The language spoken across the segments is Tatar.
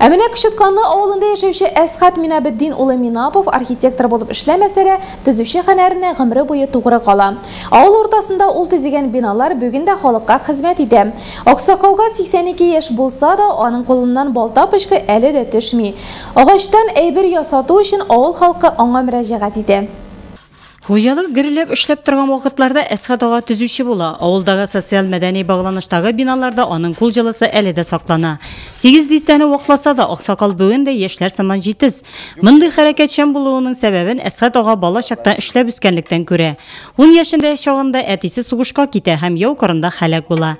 Ә менә Кычытканлы авылында яшәүче Әсхат Минабетдин улы Минапов архитектор булып эшләмәсә дә, төзүче хәнәренә гомере буе тугры кала. Авыл уртасында ул төзегән биналар бүген дә халыкка хезмәт итә. Аксакалга 82 яшь булса да, аның кулыннан балта пычкы әле дә төшми. Агачтан әйбер ясату өчен авыл халкы аңа мөрәҗәгать итә. Хуҗалык гөрләп эшләп торган вакытларда Әсхәт ага төзүче була. Авылдагы социаль-мәдәни багланыштагы биналарда аның кул җылысы әле дә саклана. Сигез дистәне вакласа да, аксакал бүген дә яшьләр сыман җитез. Мондый хәрәкәтчән булуының сәбәбен Әсхәт ага бала чактан эшләп үскәнлектән күрә. Ун яшендә чагында әтисе сугышка китә һәм яу кырында һәлак була.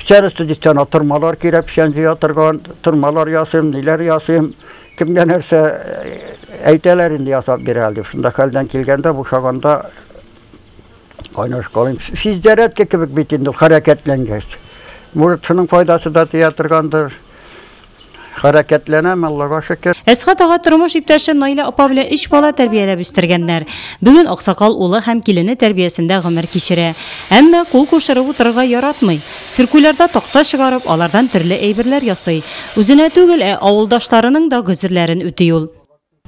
Печән өсте дистән атырмалар кирәк, печән җыя торган, тырмалар ясыйм, ниләр ясыйм, кемгә нәрсә әйтәләр инде ясап бирә әле. Шунда хәлдән килгәндә бушаганда кайнашкалыйм. Физзарядка кебек бит инде хәрәкәтләнгәч. Может, шуның файдасы да тия торгандыр. Хәрәкәтләнәм, Аллага шөкер. Әсхат ага тормыш иптәше Наилә апа белән өч бала тәрбияләп үстергәннәр. Бүген аксакал улы һәм килене тәрбиясендә гомер кичерә. Әмма кул кушырып утырырга яратмый. Циркулярда такта чыгарып, алардан төрле әйберләр ясый. Үзенә түгел, ә авылдашларының да гозерләрен үти ул.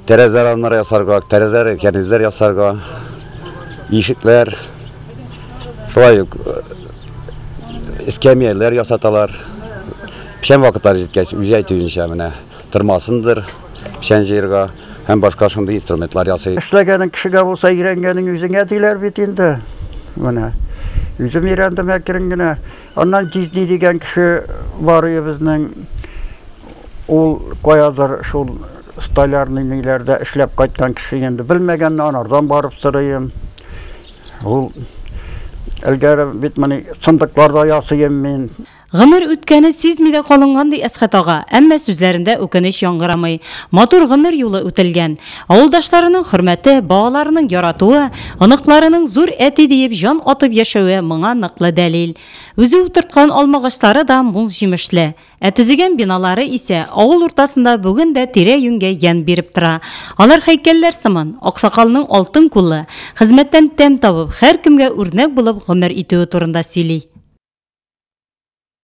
Тәрәзә рамнары ясарга, тәрәзәләр, кәрнизләр ясарга, ишекләр, шулай ук эскәмияләр ясаталар. Печән вакытлары җиткәч, үзе әйтүенчә, менә тырмасындыр, печән җыерга һәм башка шундый инструментлар ясый. Эшләгәнең кешегә булса, өйрәнгәнең үзеңә диләр бит инде. Менә үзем өйрәндем әкрен генә. Аннан җизни дигән кеше бар өебезнең. Ул каядыр шул столярный ниләрдә эшләп кайткан кеше инде, белмәгәнне анардан барып сорыйм. Ул элгәре бит моны сындыкларда ясыйм мин. Гомер үткәне сизми дә калынган, ди Әсхәт ага, әмма сүзләрендә үкенеч яңгырамый. Матур гомер юлы үтелгән. Авылдашларының хөрмәте, балаларының яратуы, оныкларының зур әти диеп җан атып яшәве моңа ныклы дәлил. Үзе утырткан алмагачлары да мул җимешле. Ә төзегән биналары исә авыл уртасында бүген дә тирә-юньгә ямь биреп тора. Алар һәйкәлләр сыман, аксакалның алтын куллы, хезмәттән тәм табып, һәркемгә үрнәк булып гомер итүе турында сөйли.